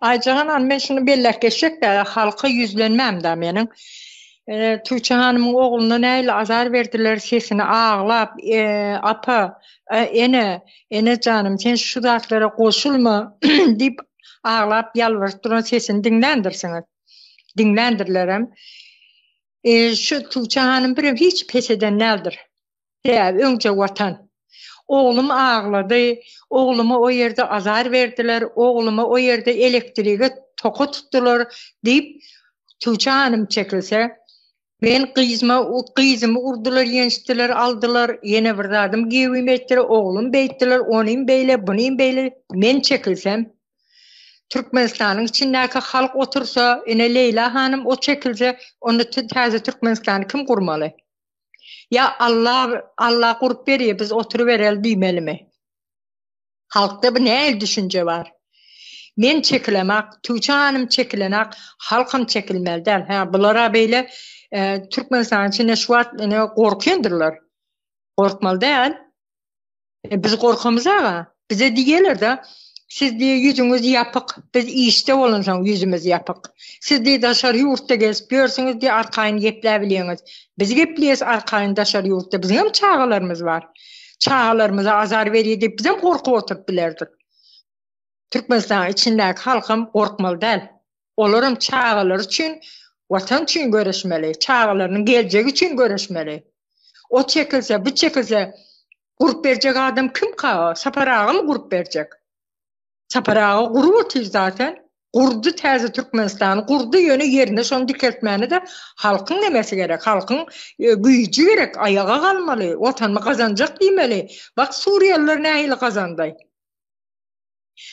Aýja hanan men şuny belläp geçjek dä halka ýüzlenmäm dä meniň. Tuýça hanymyň ogluna nähili azar berdiler sesini aglap apa ene ene janym sen şu zatlara goşulma diýip aglap ýalbaryp duran sesini diňländirsiňiz. Diňländirlerem. E, şu Tuğçe Hanım birem hiç pes eden näldir. Sebäbi öňje Watan. Oglum aglady, ogluma o ýerde azar berdiler, ogluma o ýerde elektrige toka tutdular diýip, Tuça hanym çekilse, Men gyzyma, gyzymy urdular, ýençdiler, aldylar, ýene bir zadym giýewime etdiler, oglum beýtdiler, onym beýle, bunym beýle, men çekilsem, Türkmenistanyň içindäki halk otursa, ine Leýla hanym o çekilse, onda täze Türkmenistany kim gurmaly? Ýa Alla, Alla gurp berýär, biz oturybereli diýmelimi? Halkda bu nähili düşünje bar? Men çekilemak, Tüwçe hanym çekilenak, halkam çekilmeli däl. Hä, bular-a beýle Türkmenistanyň içinde şu wagt ine gorkýandyrlar. Gorkmaly däl. E, biz gorkamyz aga. Bize diýerler-de, siz diýe ýüzüňiz ýapyk, biz işde bolansoň ýüzümiz ýapyk. Siz diýe daşary ýurtda gezip ýörsüňiz diýe arkaýyn gepläp bilýäňiz. Biz gepleýäs arkaýyn daşary ýurtda, biziňem çagalarymyz bar. Çagalarymyza azar berýär diýip bizem gorkup oturyp bilerdik. Türkmenistanyň içindäki halkam gorkmaly däl. Olaram çagalary üçin, Watan üçin göreşmeli, çagalarynyň geljegi üçin göreşmeli. Ot çekilse, bu çekilse, gurup berjek adam kimka? Sapar agamy gurup berjek? Sapar aga gurup otyr zaten. Gurdy täze Türkmenistany, gurdy, ýöne ýerine şony dikeltmäne-de halkyň nemesi gerek, halkyň güýji gerek, aýaga galmaly, Watanymy gazanjak diýmeli. Bak, suriýalylar nähili gazandy.